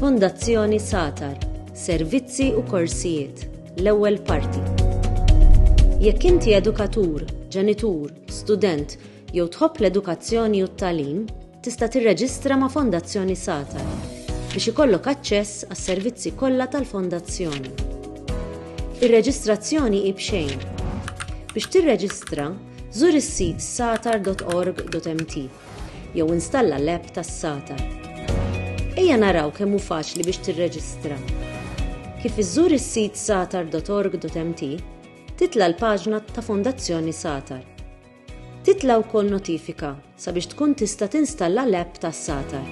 Fondazzjoni Satar, Servizzi u Korsijiet, l-ewwel parti. Jekk inti edukatur, ġenitur, student jew tħobb l-edukazzjoni u t-tagħlim, tista' tirreġistra ma' Fondazzjoni Satar biex ikollok aċċess għas-servizzi kollha tal-Fondazzjoni. Ir-reġistrazzjoni hi b'xejn. Biex tirreġistra, Żur is-sit satar.org.mt jew installa l-app tas-Satar. Ejja naraw kemm hu faċli biex tirreġistra. Kif iżżur is-sit satar.org.mt, titla' l-paġna ta' Fondazzjoni Satar. Titla' wkoll notifika sabiex tkun tista' tinstalla l-app tas-Satar.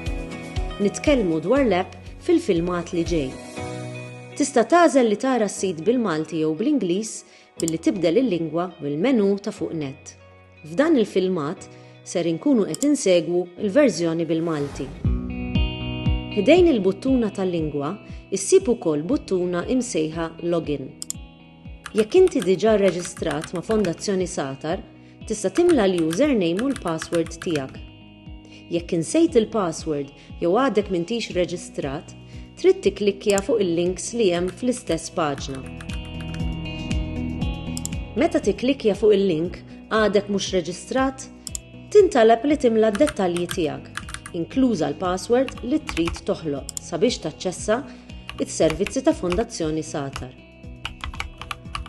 Nitkellmu dwar l-app fil-filmat li ġej. Tista' tagħżel li tara s-sit bil-Malti jew bl-Ingliż billi tibdel il-lingwa mill-menù ta' fuq net. F'dan il-filmat ser inkunu qed insegwu l-verżjoni bil-Malti. Ħdejn il-buttuna tal-lingwa ssib ukoll buttuna imsejħa Login. Jekk inti diġà rreġistrat ma' Fondazzjoni Satar, Tista' timla l-username u l-password tiegħek. Jekk insejt il-password jew għadek m'intix reġistrat, trid tikklikkja fuq il-links li hemm fl-istess paġna. Meta tikklikkja fuq il-link għadek mhux reġistrat, tintalab li timla d-dettalji tiegħek, inkluża l-password li trid toħloq sabiex taċċessa it-servizzi ta' Fondazzjoni Satar.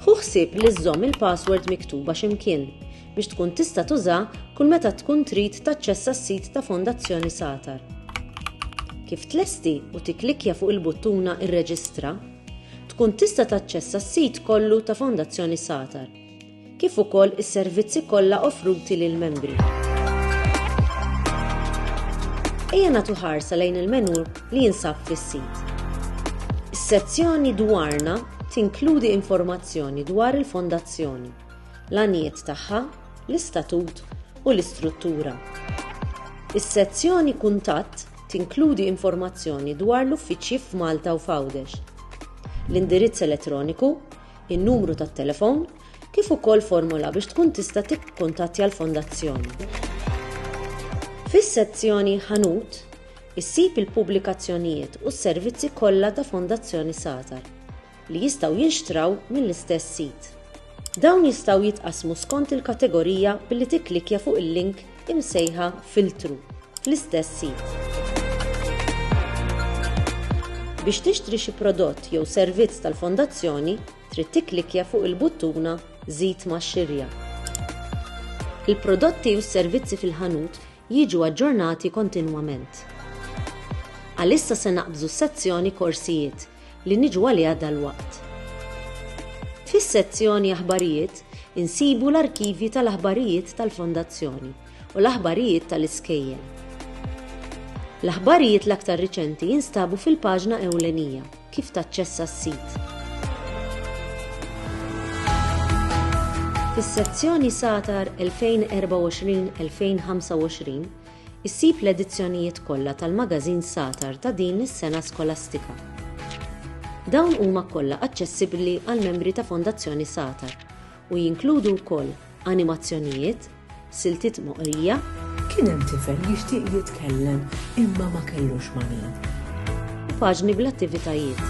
Ħu ħsieb li żżomm il-password miktuba xi mkien biex tkun tista' tuża kull meta tkun trid taċċessa s-sit ta' Fondazzjoni Satar. Kif tlesti u tikklikkja fuq il-buttuna Irreġistra, tkun tista' taċċessa s-sit kollu ta' Fondazzjoni Satar. kif ukoll is-servizzi kollha offruti lill-membri. Ejja nagħtu ħarsa lejn il-menù li jinsab fis-sit. Is-sezzjoni Dwarna tinkludi informazzjoni dwar il-Fondazzjoni, l-għanijiet tagħha, l-istatut u l-istruttura. Is-sezzjoni Kuntatt tinkludi informazzjoni dwar l-uffiċċji f'Malta u f'Għawdex. L-indirizz elettroniku in-numru tat-telefon, kif ukoll formola biex tkun tista' tikkuntattja l-Fondazzjoni. Fis-sezzjoni Ħanut, issib il-pubblikazzjonijiet u s-servizzi kollha ta' Fondazzjoni Satar, li jistgħu jinxtraw mill-istess sit. Dawn jistgħu jitqassmu skont il-kategorija billi tikklikkja fuq il-link imsejħa filtru fl-istess sit. Biex tixtri xi prodott jew servizz tal-Fondazzjoni, trid tikklikkja fuq il-buttuna Żid ma' xirja. Il-prodotti u s-servizzi fil-ħanut jiġu aġġornati kontinwament. Għalissa se naqbżu s-sezzjoni Korsijiet li niġu għaliha dalwaqt. Fis-sezzjoni Aħbarijiet insibu l-arkivji tal-aħbarijiet tal-Fondazzjoni u l-aħbarijiet tal-iskejjel. L-aħbarijiet l-aktar riċenti jinstabu fil-paġna ewlenija kif taċċessa s-sit. Fis-sezzjoni Satar 2024-2025 Issib l-edizzjonijiet kollha tal-magażin Satar ta' din is-sena skolastika. Dawn huma kollha aċċessibbli għall-membri ta' Fondazzjoni Satar u jinkludu wkoll animazzjonijiet, siltiet moqrija, Kien hemm tifel jixtieq jitkellem imma ma kellux ma' min. U paġni bl-attivitajiet.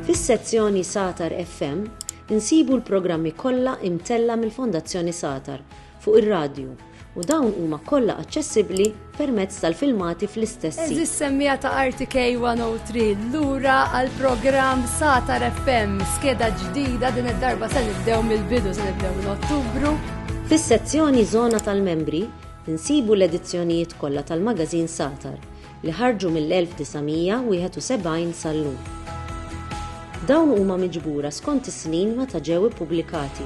Fis-sezzjoni Satar FM Insibu l-programmi kollha imtella' mill-Fondazzjoni Satar fuq ir-radju u dawn huma kollha aċċessibbli permezz tal-filmati fl-istess sit. Eżis semmiegħa ta' RTK 103, lura għall-programm Satar FM, skeda ġdida din id-darba se nibdew mill-bidu se nibdew minn Ottubru. Fis-sezzjoni Żona tal-Membri insibu l-edizzjonijiet kollha tal-magażin Satar. li ħarġu mill-1971 sal-lum. Dawn huma miġbura skont is-snin meta ġew ippubblikati.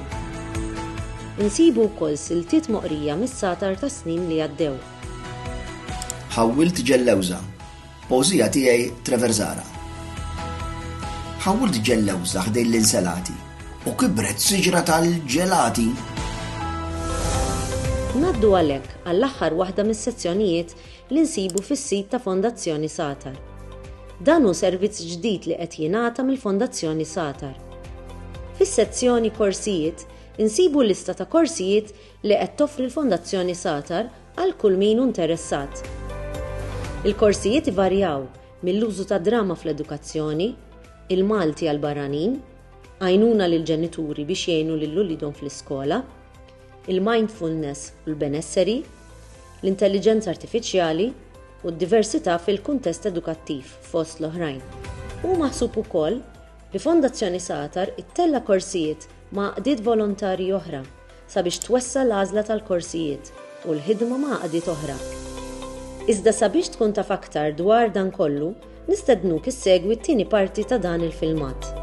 Insibu wkoll siltiet moqrija mis-satar tas-snin li għaddew. Ħawwilt ġellewża. Poeżija tiegħi Trevor Zahra. Ħawwilt ġellewża ħdejn l-inselati u kibret siġra tal-ġelati. Ngħaddu għalhekk għall-aħħar waħda mis-sezzjonijiet li nsibu fis-sit ta' Fondazzjoni Satar. Dan hu servizz ġdid li qed jingħata mill-Fondazzjoni Satar. Fis-sezzjoni Korsijiet insibu lista ta' korsijiet li qed toffri l-Fondazzjoni Satar għal kull min hu nteressat. Il-korsijiet ivarjaw mill-użu tad-drama fl-edukazzjoni, il-Malti għall-barranin, għajnuna lill-ġenituri biex jgħinu lil uliedhom fl-iskola, il-mindfulness u l-benesseri, l-intelliġenza artifiċjali u d-diversità fil-kuntest edukattiv, fost l-oħrajn. Hu maħsub ukoll li Fondazzjoni Satar ittella' korsijiet ma' għaqdiet volontarji oħra sabiex twessa' l-għażla tal-korsijiet u l-ħidma ma' għaqdiet oħra. Iżda sabiex tkun taf aktar dwar dan kollu, Nistednuk issegwi t-tieni parti ta' dan il-filmat.